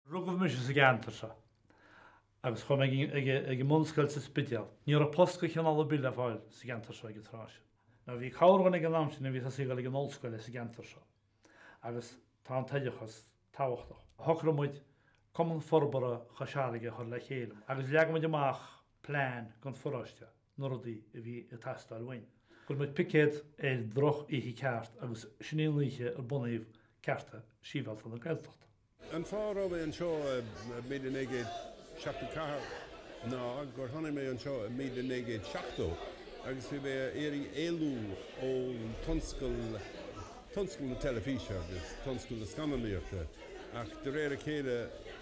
Rugadh mise sa gceantar seo agus chuaigh mé ag an mbunscoil sa Spidéal. Ní raibh post de chineál ar bith le fáil sa gceantar seo ag an tráth sin. Nó bhí cabhair ann ag an am sin, bhíos ag saothrú ag an ollscoil sa gceantar seo agus tá an t-oideachas tábhachtach. Shocraigh muid Cumann Forbartha Chois Fharraige a chur le chéile agus leag muid amach plean don pharóiste. na rudaí a bhí ag teastáil uainn. Chuir muid picéad ar drochoíche ceart agus sin í an oíche ar bunaíodh Cearta Sibhialta na Gaeltachta. An fáth a raibh mé anseo i míle naoi gcéad seachtó ceathair ná gur tháinig mé anseo i míle naoi gcéad seachtó agus bhí mé ag iarraidh éalú ón tionscal, tionscal na teilifíse agus tionscal na scannánaíochta ach de réir a chéile,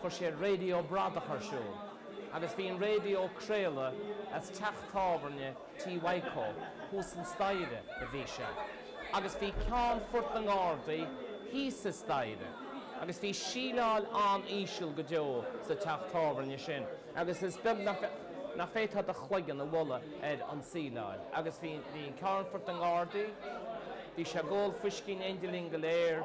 chuir siad raidió bradach ar siúl agus bhí an raidió ag craoladh as teach tábhairne Tí Mhaidhcó, thuas an staighre a bhí sé, agus bhí Ceannfort na nGardaí thíos an staighre agus bhí síleáil an-íseal go deo sa teach tábhairne sin agus is beag nach bhféadfá do chloigeann a bhualadh ar an tsíleáil agus bhí Ceannfort na nGardaí, bhí sé ag ól fuiscí in éindí linn go léir.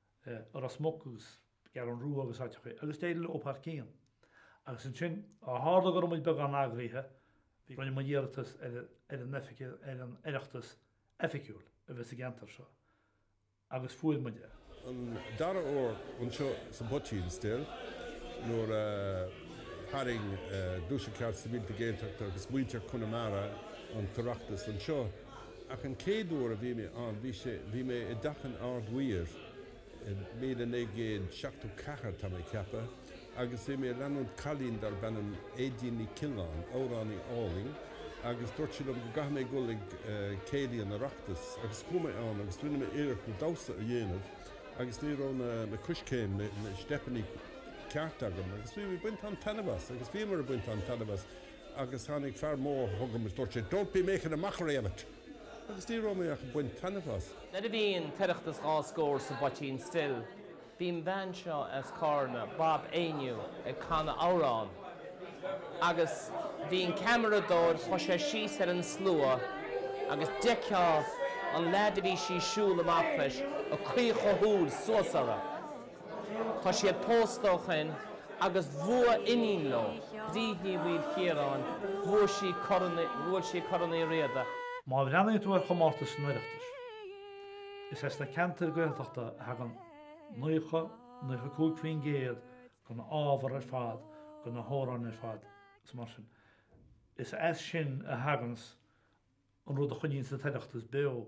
Ros Muc agus an Cheathrú Rua agus áiteacha agus d'éirigh leo thar cionn. Agus ansin, ó tharla go raibh muid beagán eagraithe, rinne muid iarratas ar an ar an Oireachtas oifigiúil a bheith sa gceantar seo agus fuair muid é. An dara huair, anseo sa bPoitín Stil, nuair a tharraing Gluaiseacht Cearta Sibhialta Gaeltachta agus muintir Chonamara an tOireachtas anseo. Ach an chéad uair a bhí mé ann bhí sé, bhí mé i dteach an Ard-Mhéara i míle naoi gcéad seachtó ceathair, tá mé ag ceapadh, agus bhí mé ag leanúint cailín darb ainm Aedín Ní Choileáin, amhránaí álainn, agus dúirt sí liom go gcaithfidh mé a dhul ag céilí an Oireachtais agus chuaigh mé ann agus rinne mé iarracht na damhsa a dhéanamh agus ní raibh na, na coiscéim, na, na steipeannaí ceart agam agus bhí mé ag baint an-taitneamh as agus bhíomar ag baint an-taitneamh as. Agus tháinig fear mór chugam is dúirt sé, Don't be making a mockery of it! Agus ní raibh mé ach ag baint taitneamh as. Nuair a bhí an tOireachtas dhá scór sa bPoitín Stil, bhí an bhean seo as Carna, Bab Éinniú, ag canadh amhrán. Agus bhí an ceamaradóir, chuaigh sé síos ar an slua agus d'fheicfeá an leaid a bhí sí ag siúl amach leis ag caochadh a shúil suas uirthi. Tá siad pósta ó shoin agus bhuaidh iníon leo, Bríd Ní Mhaoilchiaráin, bhuaidh sí Corn Uí, bhuaidh sí Corn Uí Riada. Má bhreathnaíonn tú ar chomórtais san Oireachtas, is as na ceantair Ghaeltachta a thagann 90, 95% de na hábhair ar fad, de na hamhráin ar fad, is mar sin. Is as sin a thaganns an rud a choinníonns an tOireachtas beo.